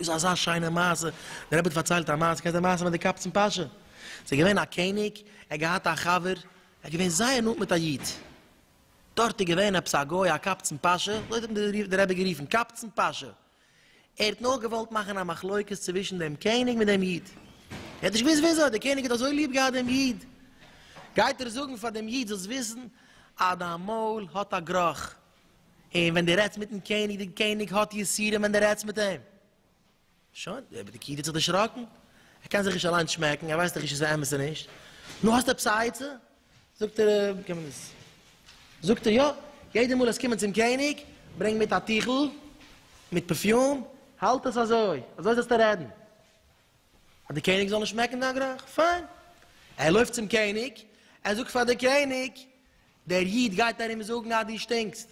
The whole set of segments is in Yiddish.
איז אזא שיינע מעשה, דער רבי האט פארציילט א מעשה, קענסט די מעשה מיט די קאפצן פאשע? ס'איז געווען א קעניג, ער האט געהאט א חבר, ער איז געווען זייער נאנט מיט א איד, דארט איז געווען עפעס א גוי א קאפצן פאשע, אזוי האט אים דער רבי גערופן, קאפצן פאשע, ער האט נאר געוואלט מאכן א מחלוקת צווישן דעם קעניג מיט דעם איד, ער האט נישט געוואוסט וויאזוי, דער קעניג האט אזוי ליב געהאט דעם איד, גייט ער זאגן פאר דעם איד, זאלסט וויסן אז דיין מויל האט א גראך, און ווען דו רעדסט מיטן קעניג, דער קעניג האט יסורים ווען דו רעדסט מיט אים. שוין, דער פקיד האט זיך דערשראקן, ער קען זיך נישט אליין שמעקן, ער ווייסט דאך נישט איז עס אמת אדער נישט. נו, האסט עפעס א עצה? זאגט ער, ווי קען מען דאס? זאגט ער, יא, יעדע מאל עסט קומען צום קעניג, ברענג מיט א טיכל מיט פערפיום, האלט עס אזוי, אזוי זאלסטו רעדן, אז דער קעניג זאל נישט שמעקן דיין גראך. פיין. ער לויפט צום קעניג, ער זאגט פאר דער קעניג, דער איד גייט ארום זאגן אז דו שטינקסט,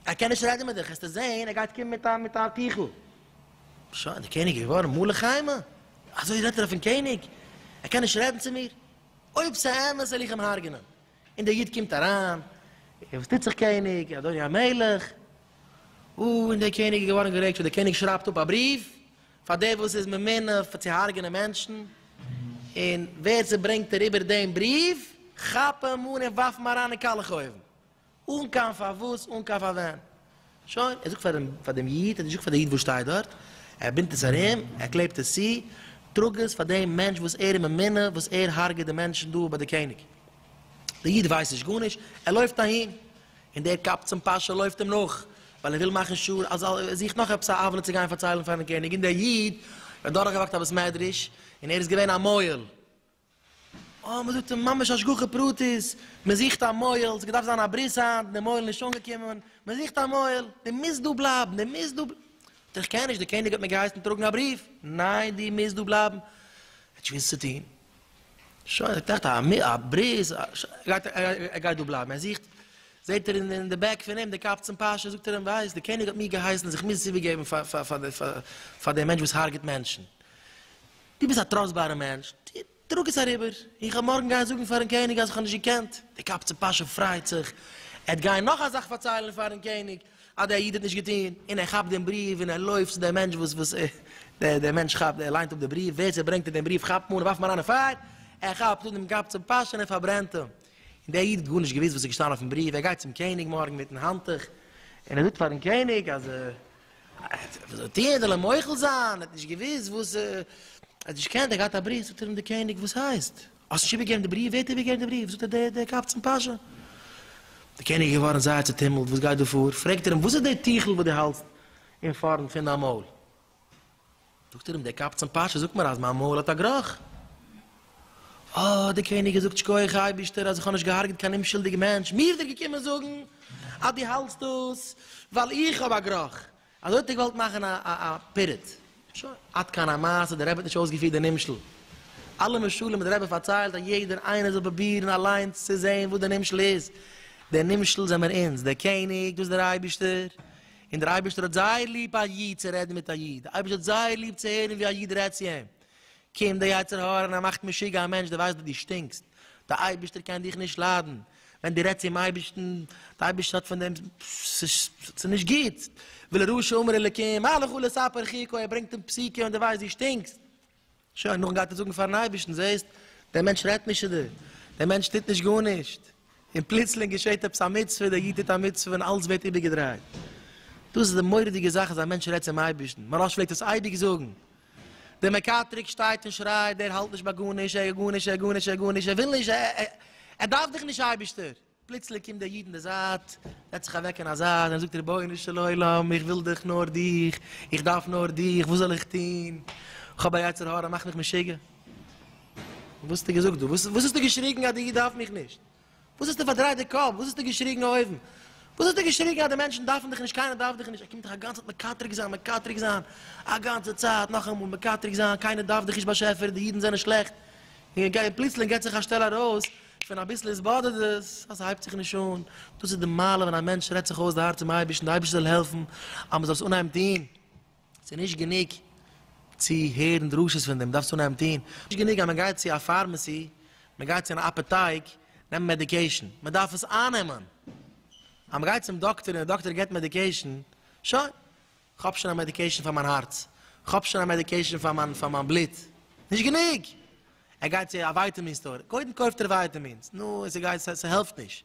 ער קען נישט רעדן מיט דיך, העסטו זען ער גייט קומען מיט א טיכל, שוין דער קעניג איז געווארן מלא חמה, אזוי רעדט ער אויפן קעניג, ער קען נישט רעדן צו מיר, אויב ס'אמת וועל איך אים הרג'נען, און דער איד קומט אריין, וואס טוט זיך קעניג, אדוני המלך, אוי און דער קעניג איז געווארן גערעגט, שוין דער קעניג שרייבט אפ א בריוו, פאר דער וואס איז ממונה פאר צו הרג'נען מענטשן, און ווער ס'ברענגט אריבער דעם בריוו, כאפ אים אן און ווארף אים אריין אין קאלעך אויוון, אן קיין פארוואס, אן קיין פארווען. שוין, ער זאגט פאר דעם, פאר דעם איד, ער האט נישט געזאגט פאר דער איד וואס שטייט דארט, ער בינדט עס ארום, ער קלעבט עס צו, טראג עס פאר דעם מענטש וואס ער איז ממונה, וואס ער הרג'עט די מענטשן דא ביי דער קעניג. דער איד ווייסט נישט גארנישט, ער לויפט אהין, און דער קבצן פאשא לויפט אים נאך, ווייל ער וויל מאכן שור, אז ער זוכט נאך עפעס א עוולה צו גיין פארציילן פארן קעניג, און דער איד האט דורכגעוואקט א בית מדרש, און ער איז געווען א מוהל. אה, מען זאגט אים ממש השגחה פרטית, מען זוכט א מוהל, ס'געדארפט זיין א ברית היינט, דער מוהל איז נישט אנגעקומען, מען זוכט א מוהל, דו מוזט דא בלייבן, דו מוזט דא בלייבן. זאגט ער, איך קען נישט, דער קעניג האט מיר געהייסן טראגן א בריוו, ניין, דו מוזט דא בלייבן. ער האט נישט געוואוסט וואס צו טון. שוין, ער טראכט א ברית, ער גייט דא בלייבן, ער זוכט, זעט ער אין די בעק פון אים די קאפ צום פאשע, זאגט ער אים, ווייסט, די קעניג האט מיר געהייסן אז איך מוז עס איבער געבן פאר דעם מענטש וואס הארגעט מענטשן, דו ביסט א טראסטבארע מענטש, טראג עס אריבער, איך וועל מארגן גיין זאגן פארן קעניג אז איך האב נישט געקענט, די קאפ צום פאשע פרייט זיך, ער וועט גיין נאך א זאך פארציילן פארן קעניג, אז דער איד האט נישט געטון, און ער כאפט דעם בריוו און ער לויפט צו דעם מענטש וואס וואס דער מענטש כאפט ער ליינט אפ דער בריוו, ווער ס'ברענגט אים דעם בריוו כאפט מען און ווארפט מען אריין אין פייער, ער כאפט אן דעם קאפ צום פאשקע און ער פארברענט אים, און דער איד האט גארנישט געוואוסט וואס איז געשטאנען אויפן בריוו, ער גייט צום קעניג מארגן מיטן האנטוך און ער זאגט פארן קעניג אז וואס זאל ער טון, זאל ער מוחל זיין, ער האט נישט געוואוסט וואס ער האט נישט געקענט, ער האט געהאט א בריוו, זאגט אים דער קעניג וואס הייסט? האסט נישט איבערגעגעבן די בריוו? ווער האט איבערגעגעבן די בריוו? זאגט ער, דער, דער קאפ צום פאשא. דער קעניג איז געווארן זייער צעטומלט, וואס גייט דא פאר? פרעגט ער אים, וואס איז דער טיכל וואס דו האלטסט אין פארנט פון דיין מויל? זאגט ער אים, דער קאפ צום פאשא זאגט מיר אז מיין מויל האט א גראך. אה, דער קעניג געזאגט, שקויעך אייבערשטער אז איך האב נישט געהארגעט קיין אומשולדיג מענטש, מיר איז ער געקומען זאגן אז דו האלטסט דאס ווייל איך האב א גראך, אזוי האט ער געוואלט מאכן א א פירוד. שוין. עד כאן המעשה, דער רבי האט נישט אויסגעפירט די נמשל. אלע משלים וואס דער רבי פארציילט אז יעדער איינער זאל פרובירן אליינס צו זען וואס דער נמשל איז. דער נמשל זעמיר אונז, דער קעניג, דאס איז דער אייבערשטער. און דער אייבערשטער האט זייער ליב א איד צו רעדן מיט א איד. דער אייבערשטער האט זייער ליב צו הערן ווי א איד רעדט צו אים. קומט די יצר הרע און ער מאכט משוגע א מענטש, דו ווייסט וואס דו שטינקסט, די אייבערשטער קען דיך נישט ליידן, ווען דו רעדסט צום אייבערשטן, די אייבערשטער האט פון דעם, ס'איז נישט גוט, ולרשע אמר אלקים מה לך ולספר חיקו, ער ברענגט אים פסיקה און דו ווייסט דו שטינקסט, שוין, נאכדעם גייט ער זאגן פארן אייבערשטן, זעסט, דער מענטש רעדט נישט צו דיר, דער מענטש טוט נישט גארנישט, און פלוצלינג געשעט עפעס א מצוה, דער איד טוט א מצוה און אלץ ווערט איבערגעדרייט, דאס איז די מורא'דיגע זאך אז א מענטש רעדט צום אייבערשטן, מוהרא ש פלעגט עס אייביג זאגן, דער מקטרג שטייט און שרייט, דער האלט נישט ביי גארנישט, ער גארנישט, ער גארנישט, ער גארנישט, ער וויל נישט, ער דארף דיך נישט אייבערשטער. פלוצלינג קומט דער איד אין די זייט, זעצט זיך אוועק אין א זייט און זאגט, רבונו של עולם, איך וויל דיך, נאר דיך, איך דארף נאר דיך, וואס זאל איך טון, איך האב א יצר הרע, מאכט מיך משוגע. וואס האסטו געזאגט דא? וואס האסטו געשריגן אז די איד דארף מיך נישט? וואס האסטו פארדרייט די קאפ? וואס האסטו געשריגן אויבן? וואס האסטו געשריגן אז די מענטשן דארפן דיך נישט, קיינער דארף דיך נישט, ער קומט דיך אגאנצעט מקטרג זיין, מקטרג זיין, אגאנצע צייט נאכאמאל מקטרג זיין, קיינער דארף דיך נישט באשעפער, די אידן זענען שלעכט, און פלוצלינג געט זיך א שטעל ארויס, פון אביסל איז באדערט דאס, אז ס'הייבט זיך נישט אן, דאס איז די מעלה ווען א מענטש רעדט זיך אויס די הארץ צום אייבערשטן, די אייבערשטער זאל העלפן אז מ'זאל עס אנהייבן טון. ס'איז נישט גענוג צו הערן דרשות פון דעם, דארפסט אנהייבן טון. נישט גענוג אז מען גייט צו א פארמעסי, מען גייט צו אן אפעטייק נעמען מעדיקעישן, מען דארף עס אייננעמען. אז מען גייט צום דאקטער און דער דאקטער גיבט מעדיקעישן, שוין, כ'האב שוין א מעדיקעישן פאר מיין הארץ, כ'האב שוין א מעדיקעישן פאר מיין פאר מיין בלוט. נישט גענוג! ער גייט צו א ווייטעמין סטאר, קודם קויפט ער ווייטעמינס, נו, און ס'גייט, ס'העלפט נישט.